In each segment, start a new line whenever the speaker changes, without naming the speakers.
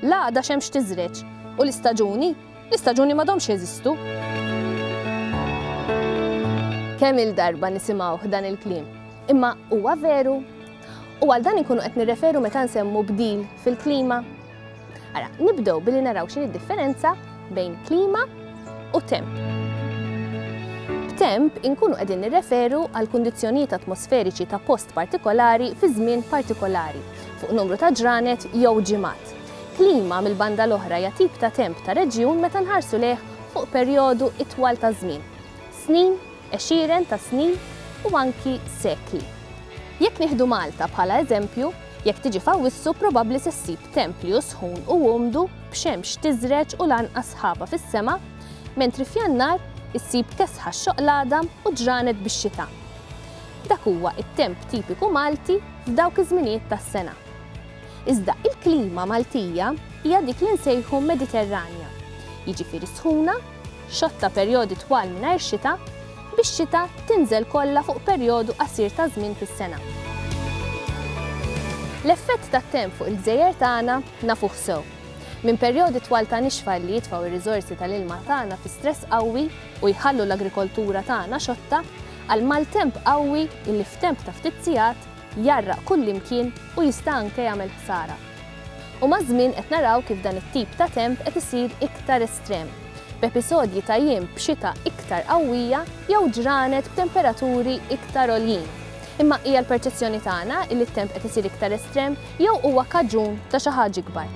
L-għada xemx tiżreġ. U l-istaġuni? L-istaġuni m'għadhomx jeżistu. Kemm-il darba nisimgħuh dan il-kliem. Imma huwa veru? U għal dan inkunu qed nirreferu meta nsemmu bdil fil-klima? Ara, nibdew billi naraw x'inhi d-differenza bejn klima u temp. B'temp inkunu qegħdin nirreferu għal kundizzjonijiet atmosferiċi ta' post partikolari fi żmien partikolari, fuq numru ta' ġranet jew ġimgħat. Klima mill-banda l-oħra hija tip ta' temp ta' reġjun meta nħarsu lejh fuq perjodu itwal ta' żmien, snin, għexieren ta' snin u anki sekli. Jekk nieħdu Malta bħala eżempju, Jekk tiġi f'Awwissu probabbli se ssib templju sħun u umdu b'xemx tiżreġ u l-anqas sħaba fis-sema, mentri f'Jannar issib kesħa x-xoqlada u ġranet bix-xita. Dak huwa t-temp tipiku Malti f'dawk iż-żminijiet tas-sena. Iżda il-klima Maltija hija dik li nsejħu Mediterranja, jiġifieri sħuna, xotta perjodi twal mingħajr xita, bix-xita tinżel kollha fuq perjodu qasir ta' żmien fis-sena. L-effett tat-temp fuq il-gżejjer tagħna nafuh sew. Minn perjodi twal ta' nixfa li jitfgħu r-riżorsi tal-ilma tagħna fi stress qawwi u jħallu l-agrikoltura tagħna xotta, għal maltemp qawwi li f'temp ta' ftit sigħat jgħarraq kullimkien u jista' anke jagħmel ħsara. U maż-żmien qed naraw kif dan it-tip ta' temp qed isir iktar estrem, b'episodji ta' jiem b'xita iktar qawwija jew ġranet b'temperaturi iktar għoljin. Imma hija l-perċezzjoni tagħna illi t-temp qed isir iktar estrem jew huwa kaġun ta' xi ħaġa ikbar?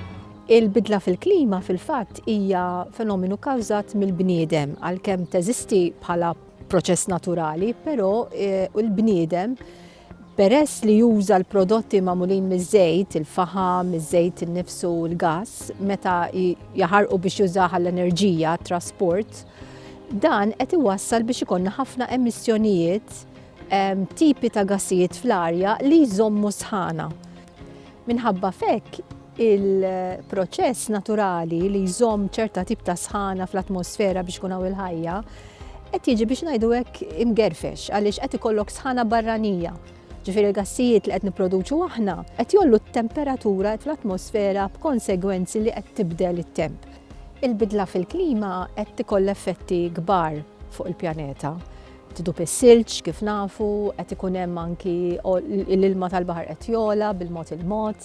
Il-bidla
fil-klima fil-fatt hija fenomenu kkawżat mill-bniedem għalkemm teżisti bħala proċess naturali, però eh, il-bniedem Peress li juża l-prodotti magħmulin miż-żejt, il-faħam, iż-żejt innifsu u l-gas, meta jaħarqu biex jużaha l-enerġija, trasport, dan qed iwassal biex ikonna ħafna emissjonijiet tipi ta' gassijiet fl-arja li jżommu sħana. Minħabba f'hekk, il-proċess naturali li jżomm ċerta tip ta' sħana fl-atmosfera biex kun hawn il-ħajja qed jiġi biex ngħidu hekk imgerfex għaliex qed ikollok sħana barranija. Ġifieri l-gassijiet li qed nipproduċu aħna qed jollu t-temperatura fl-atmosfera b'konsegwenzi li qed tibdel it-temp. Il-bidla fil-klima qed tikoll effetti kbar fuq il-pjaneta. Tidub is-silġ kif nafu, qed ikun hemm anki l-ilma tal-baħar qed jola bil-mod il-mod,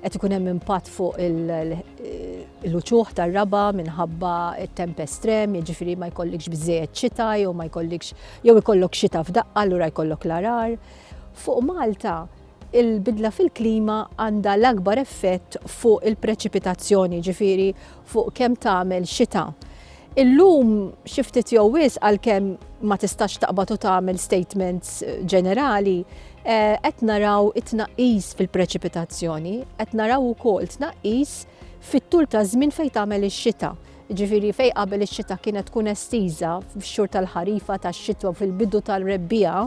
qed ikun hemm impatt fuq il-uċuħ tar-raba minħabba t-temp estrem, jiġifieri ma jkollikx biżejjed xita jew ma jkollikx jew ikollok xita f'daqqa allura jkollok l-arar. Fuq Malta Il-bidla fil-klima għandha l-akbar effett fuq il-preċipitazzjoni, jiġifieri fuq kemm tagħmel xita. Illum xi ftit jew wisq għalkemm ma tistax taqbad u tagħmel statements ġenerali, qed naraw it-tnaqqis fil-preċipitazzjoni, qed naraw ukoll tnaqqis fit-tul ta' żmien fejn tagħmel ix-xita. Jiġifieri fejn qabel ix-xita kienet tkun estiża fix-xhur tal-ħarifa, tax-xitwa u fil-bidu tar-rebbiegħa,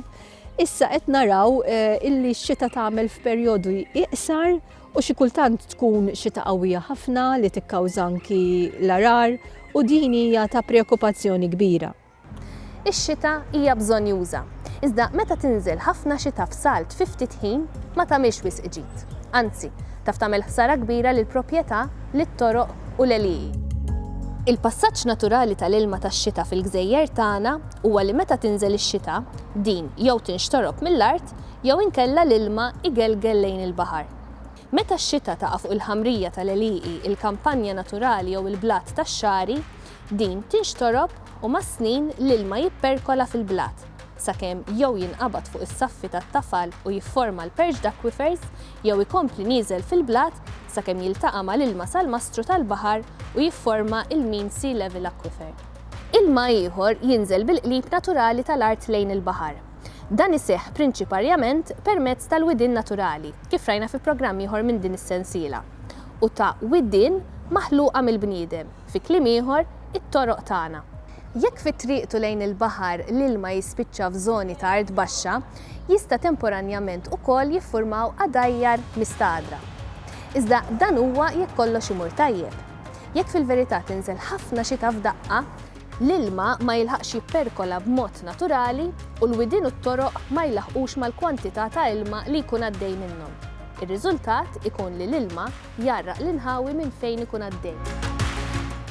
Issa qed naraw illi x-xita tagħmel f'perjodu iqsar u xi kultant tkun xita qawwija ħafna li tikkawża anki l-għarar u din hija ta' preokkupazzjoni kbira. Ix-xita
hija bżonnjuża, iżda meta tinżel ħafna xita f'salt fi ftit ħin ma tagħmilx wisq ġid. Anzi, taf tagħmel ħsara kbira lill-propjetà, lit-toroq u l-għelieqi. Il-passaġġ naturali tal-ilma tax-xita fil-gżejjer tagħna huwa li meta tinżel ix-xita, din jew tinxtorob mill-art jew inkella l-ilma jgelgel lejn il-baħar. Meta x-xita taqa' fuq il-ħamrija tal-għelieqi, il-kampanja naturali jew il-blat tax-xagħri, din tinxtorob u mas-snin l-ilma jipperkola fil-blat, sakemm jew jinqabad fuq is-saffi tat-tafal u jifforma l-perched aquifers jew ikompli nieżel fil-blat sakemm jiltaqa' mal-ilma salmastru tal-baħar u jifforma l-mean sea level aquifer. Ilma ieħor jinżel bil-qlib naturali tal-art lejn il-baħar. Dan iseħħ prinċiparjament permezz tal-widien naturali, kif rajna fi programm ieħor minn din is-sensiela, u ta' widien maħluqa mill-bniedem, fi kliem ieħor, it-toroq tagħna. Jekk fi triqtu lejn il-baħar l-ilma jispiċċa f'żoni ta' art baxxa, jista' temporanjament ukoll jiffurmaw għadajjar mistagħdra. Iżda dan huwa jekk kollox imur tajjeb. Jekk fil-verità tinżel ħafna xita f'daqqa, l-ilma ma jilħaqx jipperkola b'mod naturali u l-widien u t-toroq ma jlaħħqux mal-kwantità ta' ilma li jkun għaddej minnhom. Ir-riżultat ikun li l-ilma jgħarraq l-inħawi minn fejn ikun għaddej.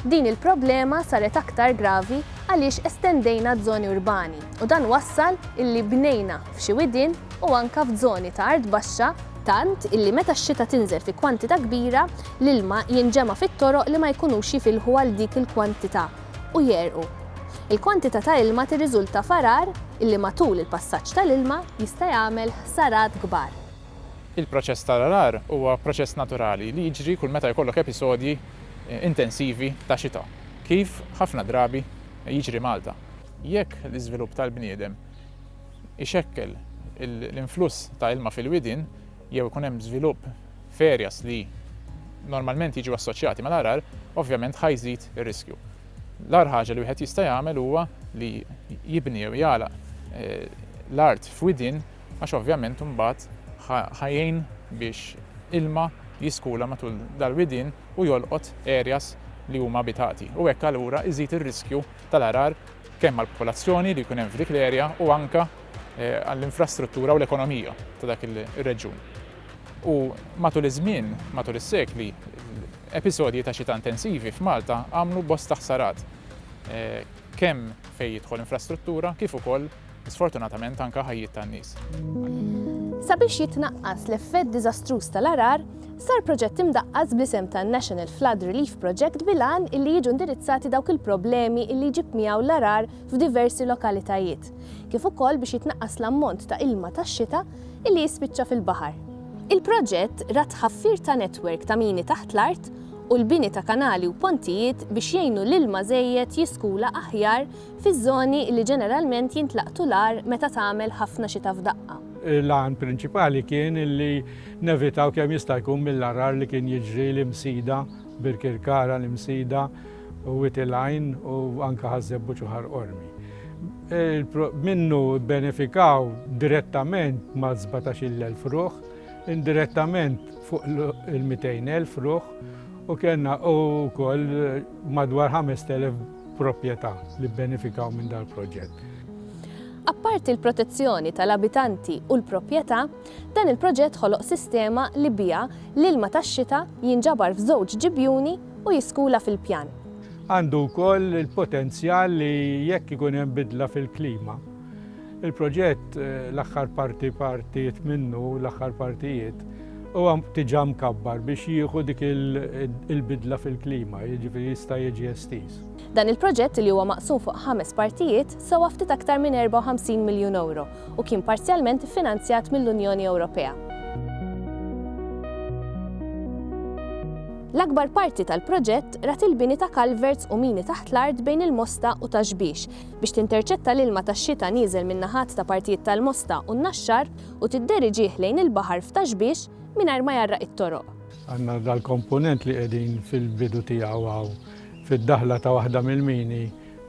Din il-problema saret aktar gravi għaliex estendejna ż-żoni urbani u dan wassal illi bnejna f'xi widien u anke f'żoni ta' art baxxa, tant illi meta x-xita tinżel fi kwantità kbira, l-ilma jinġema' fit-toroq li ma jkunux jifilħu għal dik il-kwantità u jegħrqu. Il-kwantità ta' ilma tirriżulta f'għarar illi matul il-passaġġ tal-ilma jista' jagħmel ħsarat kbar. Il-proċess
tal-għarar huwa proċess naturali li jiġri kull meta jkollok episodji intensivi ta' xita, kif ħafna drabi jiġri Malta. Jekk l-iżvilupp tal-bniedem ixekkel l-influss ta' ilma fil-widien jew ikun hemm żvilupp f'areas li normalment jiġu assoċjati mal-għargħar, ovvjament ħa jżid ir-riskju. L-agħar ħaġa li wieħed jista' jagħmel huwa li jibni jew jagħlaq eh, l-art f'widien għax ovvjament imbagħad ħa jgħin biex ilma jiskula matul dal-widien u jolqot areas li huma abitati u hekk allura iżid ir-riskju tal-għargħar kemm għall-popolazzjoni li jkun hemm f'dik l-erja u anke għall-infrastruttura u l-ekonomija ta' dak ir-reġjun. U matul iż-żmien, matul is-sekli, episodji ta' xita intensivi f'Malta għamlu bosta ħsarat kemm fejn jidħol infrastruttura kif ukoll sfortunatament anke ħajjiet tan-nies.
Sabiex jitnaqqas l-effett diżastruż tal-għarar, sar proġett imdaqqas bl-isem ta' National Flood Relief Project bil-għan illi jiġu indirizzati dawk il-problemi illi jġib miegħu l-għarar f'diversi lokalitajiet, kif ukoll biex jitnaqqas l-ammont ta' ilma tax-xita illi jispiċċa fil-baħar. Il-proġett ra tħaffir ta' netwerk ta' mini taħt l-art u l-bini ta' kanali u pontijiet biex jgħinu l-ilma żejjed jiskula aħjar fiż-żoni li ġeneralment jintlaqtu l-agħar meta tagħmel ħafna xita f'daqqa. L-għan prinċipali
kien li nevitaw kemm jista' jkun mill-għargħar li kien jiġri l-Imsida, Birkirkara, l-Imsida, Wied il-Għajn u anke Ħaż-Żebbuġ u Ħar Qormi. Minnu bbenefikaw direttament mas-17-il elf ruħ, indirettament fuq il-200 elf ruħ u kellna wkoll madwar 5,000 proprjetà li bbenefikaw minn dal-proġett.
Apparti l-protezzjoni tal-abitanti u l-proprjetà, dan il-proġett ħoloq sistema li biha l-ilma tax-xita jinġabar f'żewġ ġibjuni u jiskula fil-pjan. Għandu
wkoll il-potenzjal li jekk ikun hemm bidla fil-klima, Il-proġett l-aħħar parti partijiet minnu, l-aħħar partijiet, huwa diġà mkabbar biex jieħu dik il-bidla fil-klima, jiġifieri jista' jiġi estiż. Dan il-proġett
li huwa maqsum fuq ħames partijiet sewa ftit aktar minn 54 miljun euro u kien parzjalment iffinanzjat mill-Unjoni Ewropea. L-akbar parti tal-proġett rat il-bini ta' kalverts u mini taħt l-art bejn il-Mosta u Taxbix biex tinterċetta l-ilma tax-xita nieżel min-naħat ta' partijiet tal-Mosta u n-Naxxar u tidderiġih lejn il-baħar f'Taxbiex mingħajr ma jgħarraq it-toroq. Għandna
dal-komponent li qegħdin fil-bidu tiegħu hawn, fid-daħla ta' waħda mill-mini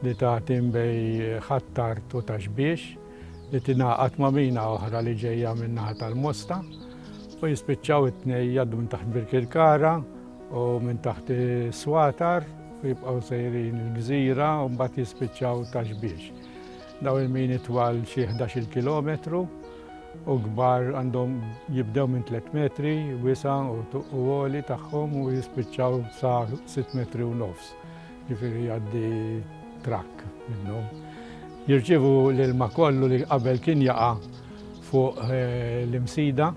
li tagħti bejn Ħ'Attard u Taxbiex, li tingħaqad ma' mina oħra li ġejja min-naħa tal-Mosta u jispiċċaw it-tnejn jgħaddu minn taħt Birkirkara, u minn taħt is-swatar u jibqgħu sejrin il-gżira u mbagħad jispiċċaw ta' xbiex. Daw il-mini twal xi 11 kilometru u kbar għandhom jibdew minn 3 metri wisa u tuqqu għoli tagħhom u jispiċċaw sa 6 metri u nofs. Ġifieri għaddi trakk minnhom. Jirċivu l-ilma kollu li qabel kien jaqa' fuq eh, l-imsida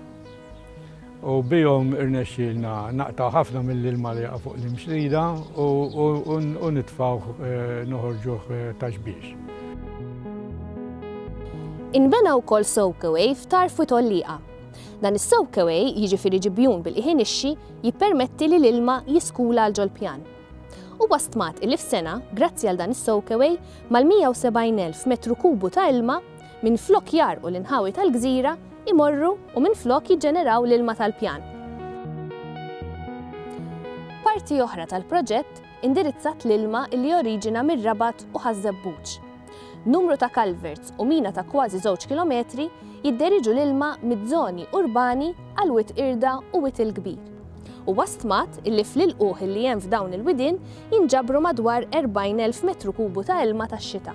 u bihom irnexxielna naqtgħu ħafna mill-ilma li jaqa' fuq l-imxrida u nitfgħuh noħorġuh ta' xbiex.
Inbena wkoll soakaway f'Tarf u Tolliqa. Dan is-soakaway, jiġifieri ġibjun bil-qiegħ inixxi, jippermetti li l-ilma jiskula għal ġol-pjan. Huwa stmat illi f'sena, grazzi għal dan is-soakaway, mal-170,000 metru kubu ta' ilma, Minflok jgħarrqu l-inħawi tal-gżira, imorru u minflok jiġġeneraw l-ilma tal-pjan. Parti oħra tal-proġett indirizzat l-ilma li joriġina mir-Rabat u Ħaż-Żebbuġ. Numru ta' culverts u mina ta' kważi żewġ kilometri jidderiġu l-ilma miż-żoni urbani għal Wied Qirda u Wied il-Kbir. Huwa stmat illi fl-ilqugħ illi hemm f'dawn il-widien jinġabru madwar 40,000 metru kubu ta' ilma tax-xita.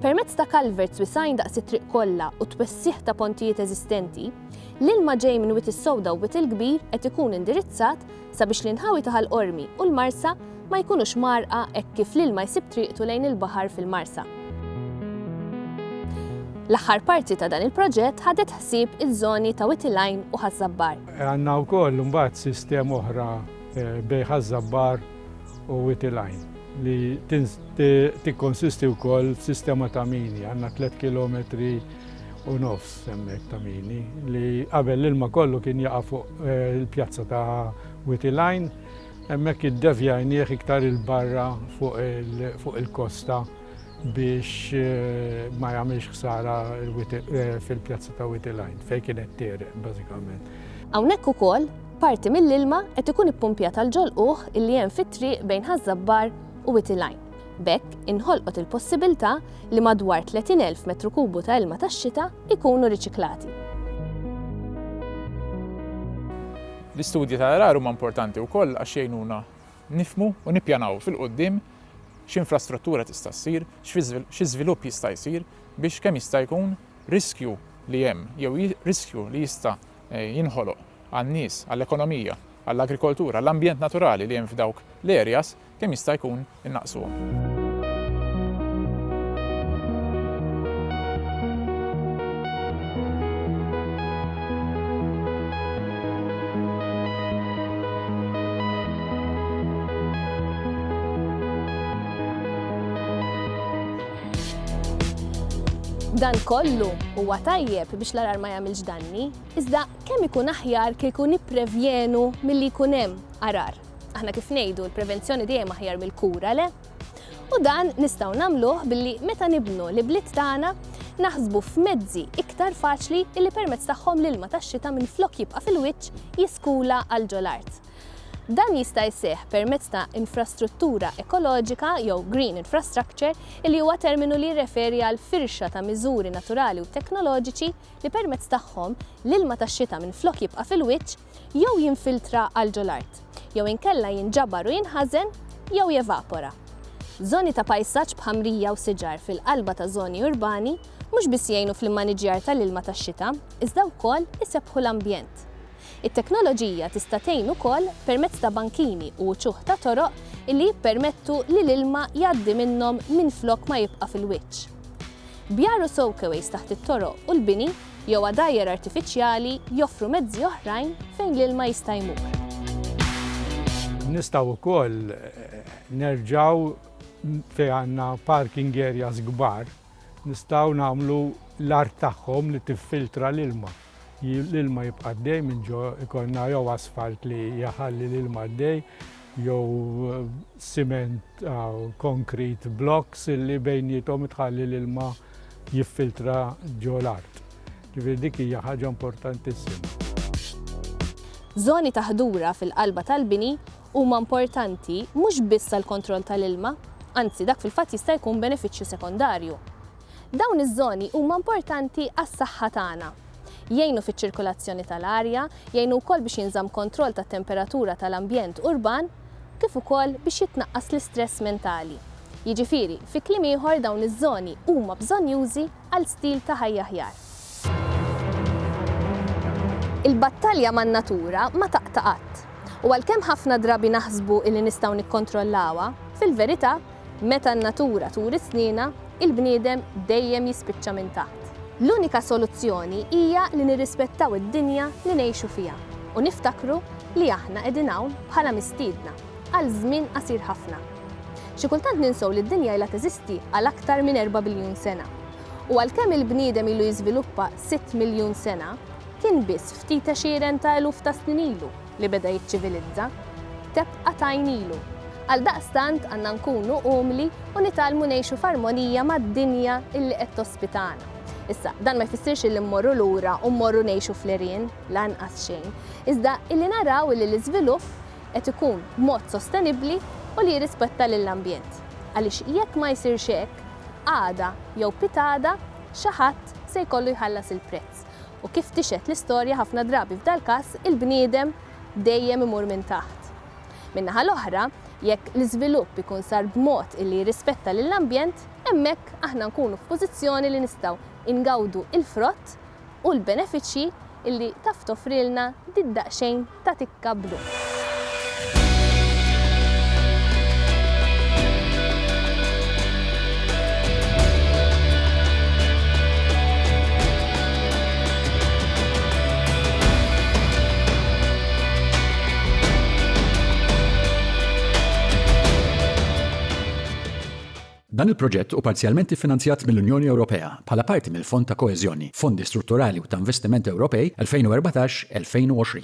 Permezz ta' culverts wisgħin daqs it-triq kollha u t-twessigħ ta' pontijiet eżistenti, l-ilma ġej minn Wied is-Sewda u Wied il-Kbir qed ikun indirizzat sabiex l-inħawi ta' Ħal Qormi u l-Marsa ma jkunux mgħarrqa hekk kif l-ilma jsib triqtu lejn il-baħar fil-Marsa. L-aħħar parti ta' dan il-proġett ħadet ħsieb iż-żoni ta' Wied il-Għajn u Ħaż-Żabbar. Għandna wkoll
imbagħad sistema oħra bejn Ħaż-Żabbar u Wied il-Għajn li tikkonsisti wkoll f'sistema ta' mini. Għandna tliet kilometri u nofs. Semmiet Tamini li qabel l-ilma kollu kien jaqa' fuq il-pjazza ta' Witty Line, hemmhekk iddevjajnieh iktar 'il barra fuq il-kosta biex ma jagħmilx ħsara fil-pjazza ta' Witty Line fejn kienet tegħreq bażikament. Hawnhekk ukoll
parti mill-ilma qed ikun ippumpjat għall-ġolqugħ li hemm fit-triq bejn Ħaż-Żabbar u Witty Line. B'hekk inħolqot il-possibiltà li madwar 30,000 metru kubu ta' ilma tax-xita jkunu riċiklati.
L-istudji ta' għargħar huma importanti wkoll għax jgħinuna nifhmu u nippjanaw fil-quddiem x'infrastruttura tista' ssir, xi żvilupp jista' jsir biex kemm jista' jkun riskju li hemm jew riskju li jista' jinħoloq għan-nies, għall-ekonomija, għall-agrikoltura, għall-ambjent naturali li hemm f'dawk l-areas kemm jista' jkun innaqqsuhom.
Dan kollu huwa tajjeb biex l-arar ma jagħmilx danni, iżda kemm ikun aħjar kieku nipprevjenu milli jkun hemm arar. Aħna kif ngħidu l-prevenzjoni dejjem aħjar mill-kura le? U dan nistgħu nagħmluh billi meta nibnu li bliet tagħna naħsbu f'mezzi iktar faċli illi permezz tagħhom l-ilma tax-xita minn flok jibqa' fil-wiċċ jiskula għal ġol-art. Dan jista' jseħ permezz ta' infrastruttura ekoloġika jew green infrastructure illi huwa terminu li jirreferi għal firxa ta' miżuri naturali u teknoloġiċi li permezz tagħhom l-ilma tax-xita minn flok jibqa' fil-wiċċ jew jinfiltra għal ġo l-art, jew inkella jinġabar u jinħażen jew jevapora. Żoni ta' pajsaġġ b'ħamrija u siġar fil-qalba ta' żoni urbani mhux biss jgħinu fl-immaniġjar tal-ilma tax-xita, iżda wkoll isebbħu l-ambjent. It-teknoloġija tista' tgħin ukoll permezz ta' bankini u uċuħ ta' toroq illi jippermettu li l-ilma jgħaddi minnhom minflok ma jibqa' fil-wiċċ. Bjar u soakeways taħt it-toroq u l-bini jew għadajjar artifiċjali joffru mezzi oħrajn fejn l-ilma jista' jmur.
Nistgħu wkoll nerġgħu fejn għandna parking areas kbar, nistgħu nagħmlu l-art tagħhom li tiffiltra l-ilma. L-ilma jibqa' għaddej minn ġo ikollna jew asfalt li jaħalli l-ilma għaddej jew siment ah, konkret blocks li bejnietom tħalli l-ilma jiffiltra ġo l-art. Ġifieri dik hija ħaġa importantissima.
Żoni ta' ħdura fil-qalba tal-bini huma importanti mhux biss għall-kontroll tal-ilma, anzi dak fil-fatt jista' jkun benefiċċju sekondarju. Dawn iż-żoni huma importanti għas-saħħa tagħna. Jgħinu fiċ-ċirkulazzjoni tal-arja, jgħinu wkoll biex jinżamm kontroll tat-temperatura tal-ambjent urban, kif ukoll biex jitnaqqas l-istress mentali. Jiġifieri, fi kliem ieħor dawn iż-żoni huma bżonnjużi għal stil ta' ħajja aħjar. Il-battalja man-natura ma taqta' qatt. U għalkemm ħafna drabi naħsbu illi nistgħu nikkontrollawha, fil-verità, Meta n-natura turi snienha, il-bniedem dejjem jispiċċa minn taħt. L-unika soluzzjoni hija li nirrispettaw id-dinja li ngħixu fiha u niftakru li aħna qegħdin hawn bħala mistiedna għal żmien qasir ħafna. Xi kultant ninsew li d-dinja ilha teżisti għal aktar minn erba' biljun sena. U għalkemm il-bniedem ilu jiżviluppa sitt miljun sena, kien biss ftit għexieren ta' eluf ta' snin ilu li beda jiċċivilizza, tebqa' tgħajnilu. Għaldaqstant għandna nkunu umli u nitgħallmu ngħixu f'armonija mad-dinja illi qed tospitana. Issa, dan ma jfissirx illi mmorru lura u mmorru ngħixu fl-għerien, lanqas xejn, iżda illi naraw illi l-iżvilupp qed ikun b'mod sostenibbli u li jirrispetta lill-ambjent. Għaliex jekk ma jsirx hekk, għada jew pitgħada xi ħadd se jkollu jħallas il-prezz. ħadd u kif tixhed l-istorja ħafna drabi f'dal-każ il-bniedem dejjem imur minn taħt. Min-naħa l-oħra, jekk l-iżvilupp ikun sar b'mod illi jirrispetta lill-ambjent, hemmhekk aħna nkunu f'pożizzjoni li nistgħu ngawdu l-frott u l-benefiċċji illi taf toffrilna di d-daqsxejn ta' tikka blu.
Dan il-proġett u parzjalment iffinanzjat mill-Unjoni Ewropea bħala parti mill-Fond ta' Koeżjoni, Fondi Strutturali u ta' Investiment Ewropej 2014-2020.